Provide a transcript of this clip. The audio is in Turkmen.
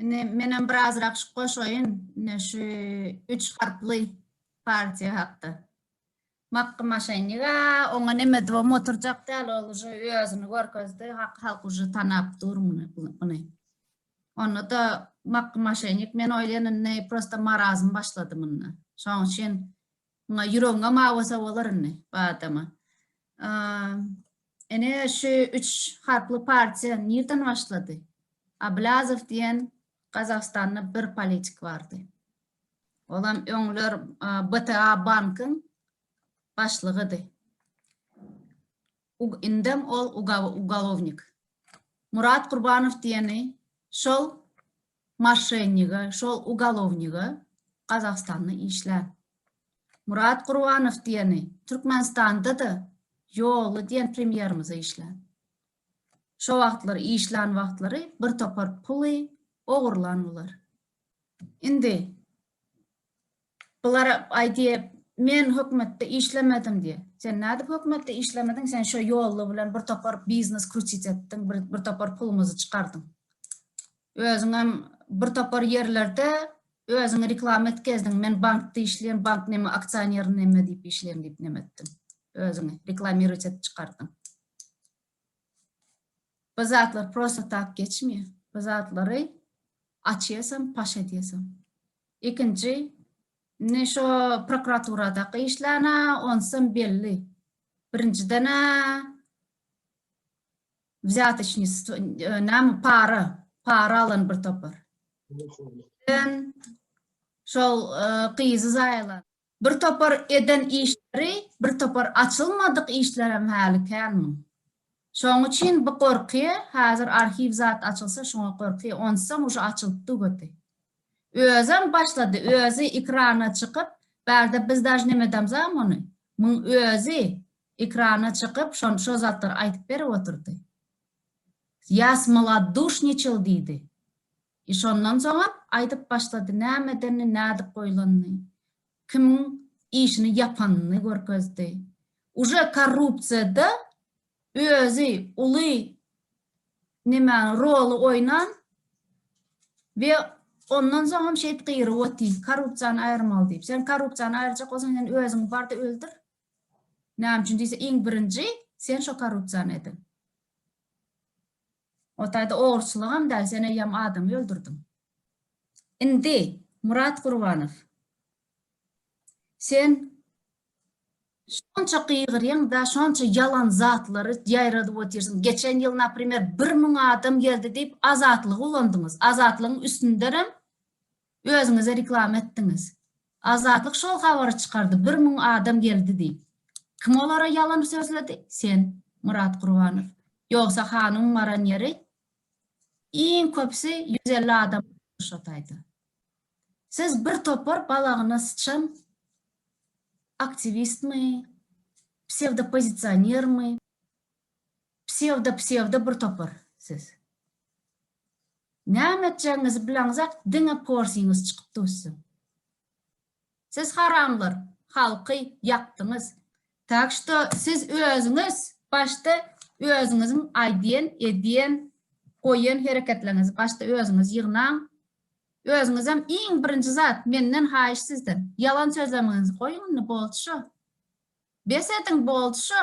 Indi menem birazrak şu goşaýyn, indi şu üç harply partiýa hakda. Makky maşenniga, oňa neme diýibem oturjak däl, ol uje özüni görkezdi, halk uje tanap dur muny. Onda-da makky maşennik, men oýlaýan indi prosta marazm başlady munda. Şonuň üçin Muňa ýüregiňem awasa bolar indi badama. Ene şu üç harply partiýa nirden başlady? Ablazow diýen Gazagystanda bir politik bardy. Olam öňler BTA bankyň başlygydy. Ug indem ol ugalownik. Murat Gurbanow diýeni şol maşşenige, şol ugalowniga Gazagystanda işlä. Murat Gurbanow diýeni Türkmenistanda-da Ýolly diýen premýerimize işlä. Şo wagtlar işlän wagtlary bir topar puly ogurlan bular. Indi Bular aýdýa men hökmetde işlemedim diýe. Sen nädip hökmetde işlemediň sen şo ýolla bilen bir topar biznes krutit etdiň bir bir topar puluňyzy çykardyň. Özüňem bir topar ýerlerde özüňi reklama etkezdiň men bankda işleýän bank neme aksioner neme diýip işleýän diýip neme etdiň. Özüňi reklamirowat edip çykardyň. Bu zatlar prosta tak geçmeýär. Bu zatlary açýarsaň, paş edýärsiň. Ikinji, indi şo prokuraturadaky işlana onsam belli. Birinjidene wzýatocnisto, näme para, para alan bir topar. Şol gyzy zaýalan. Bir topar eden işleri, bir topar açylmadyk işlerem häli känmiň? Şoň üçin bu gorky, häzir arhiw zat açylsa şuňa gorky, onsam uje açylyp dugedi. Özem başlady, özi ekrana çykyp, bärde biz daž nemedamzam ony, muň özi ekrana çykyp şon şo zatlary aýtyp berip otyrdy. Ýa smoloduşniçil diýdi. I şondan soňam aýdyp başlady, näme edenini, nädip goýlanyny, kimiň işini ýapanyny görkezdi. Uje korrupsiýada özi uly nemäni, roly oýnan we ondan soňam şeýt gyryp oty, korrupsiýany aýyrmaly diýip. Sen korrupsiýany aýyrjak bolsaň, sen özüňi bar-da öldür. Näme üçin diýse, iň birinji sen şo korrupsiýany edin. O taýda ogruçylygam däl, sen eýýäm adam öldürdiň. Indi, Murat Gurbanow, sen şonça gygyrýaň da, şonça ýalan zatlary ýaýradyp otyrsyň. Geçen ýyl, naprimer, bir müň adam geldi diýip, Azatlygy ulandyňyz. Azatlygyň üstündenem Özüňize reklama etdiňiz. Azatlyk şol habary çykardy bir müň adam geldi diýip. Kim olara ýalan sözledi? Sen, Murat Gurbanow. Ýogsa hanuň baran ýeri iň köpüsi ýüz elli adam şotaýda. Siz bir topar balagyna syçan aktiwistmi, psewdopozisionermi? Psewdo psewdo bir topar siz. Näme etjegiňizi bileňizok diňe porsiňiz çykyp dussin. Siz haramlar halky ýakdyňyz. Tak što siz özüňiz başda özüňiziň aýdýan edýän goýan hereketleriňizi başda özüňiz ýygnaň. Özüňizem iň birinji zat menden haýyş sizden ýalan sözlemeginizi goýuň indi boldy şo. Bes ediň boldy şo.